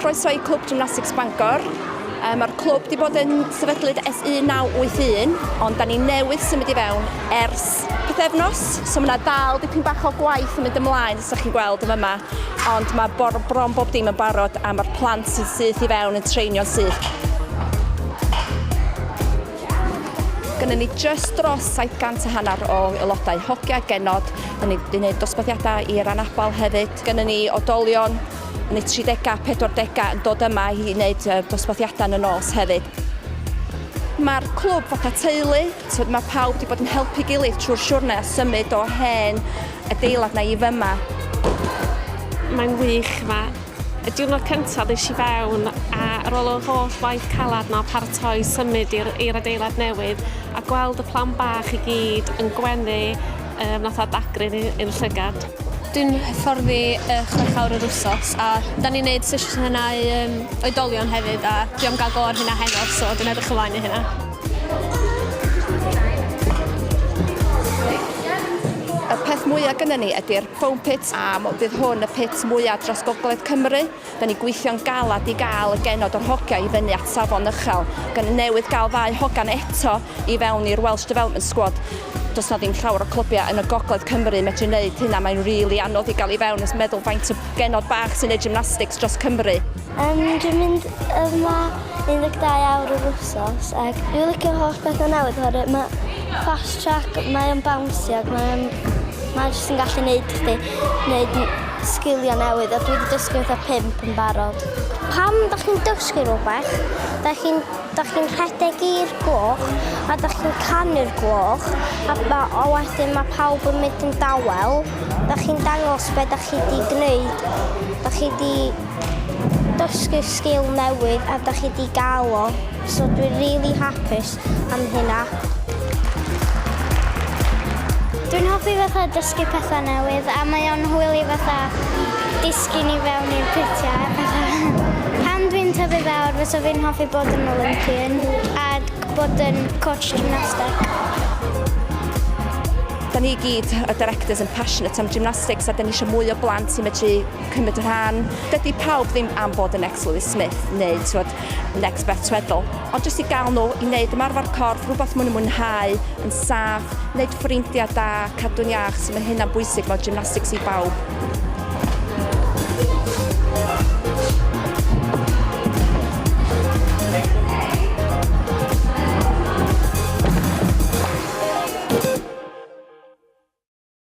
Croeso i Clwb Gymnastics Bangor. Um, Mae'r clwb wedi bod yn sefydlyd es 1981, ond da ni newydd symud i fewn ers pethefnos, so mae yna dal dipyn bach o gwaith yn mynd ymlaen, os ydych chi'n gweld yn yma, ond mae bor, bron bob dim yn barod a mae'r plant sy'n syth i fewn yn treinio'n syth. Gynnon ni jyst dros 700 a hanner o aelodau hogia genod yn ei wneud dosbarthiadau i'r anabl hefyd. Gynnon ni odolion yn eu tridegau a pedwardegau yn dod yma i wneud dosbarthiadau yn y nos hefyd. Mae'r clwb fatha teulu, tibod mae pawb wedi bod yn helpu gilydd trwy'r siwrne a symud o hen adeilad na i fyma. Mae'n wych 'ma. Y diwrnod cyntaf ddes i fewn a ar ôl yr holl waith calad na paratoi symud i'r i'r adeilad newydd a gweld y plan bach i gyd yn gwenu um, nath adagrin i'r llygad. Dwi'n hyfforddi uh, chwech awr yr wsos a da ni'n neud sesiynau um, oedolion hefyd a dwi am gael go ar hynna heno so dwi'n edrych ymlaen i hynna. Y peth mwyaf gyda ni ydy'r Foam Pit a fydd hwn y pit mwyaf dros gogledd Cymru. Da ni gweithio'n galed i gael y genod o'r hogiau i fyny at safon uchel. Gan newydd gael ddau hogan eto i fewn i'r Welsh Development Squad. Does na ddim llawer o clybiau yn y gogledd Cymru medru neud hynna, mae'n rili anodd i gael i fewn, meddwl faint o genod bach sy'n neud gymnastics dros Cymru. Yym dwi'n mynd yma 12 awr yr wsos ac dwi'n licio holl bethau newydd oherwydd mae fast track, mae o'n bawnsio ac mae o'n... mae jyst yn gallu neud chdi neud sgiliau newydd a dwi wedi dysgu fatha pump yn barod. Pam da chi'n dysgu rhywbeth, da chi'n da chi'n rhedeg i'r gloch a da chi'n canu'r gloch a, ba, a wedyn mae pawb yn mynd yn dawel. Da chi'n dangos be da chi di gwneud, da chi di dysgu sgil newydd a da chi di gael o, so dwi'n really hapus am hynna. Dwi'n hoffi fatha dysgu pethau newydd a mae o'n hwyl i fatha disgu ni fewn i'r pytiau a pethau. Pan dwi'n tyfu fawr fysa fi'n hoffi bod yn Olympian a bod yn coach gymnastig. Da ni gyd, y directors, yn passionate am gymnastics a da ni eisiau mwy o blant i medru cymryd rhan. Dydy pawb ddim am bod yn Next Lewis Smith neu twod, Next Beth Tweddle, ond jyst i gael nhw i wneud ymarfer corff, rhywbeth maen nhw'n mwynhau, yn saff, wneud ffrindiau da, cadw'n iach, so mae hynna'n bwysig, mae gymnastics i bawb.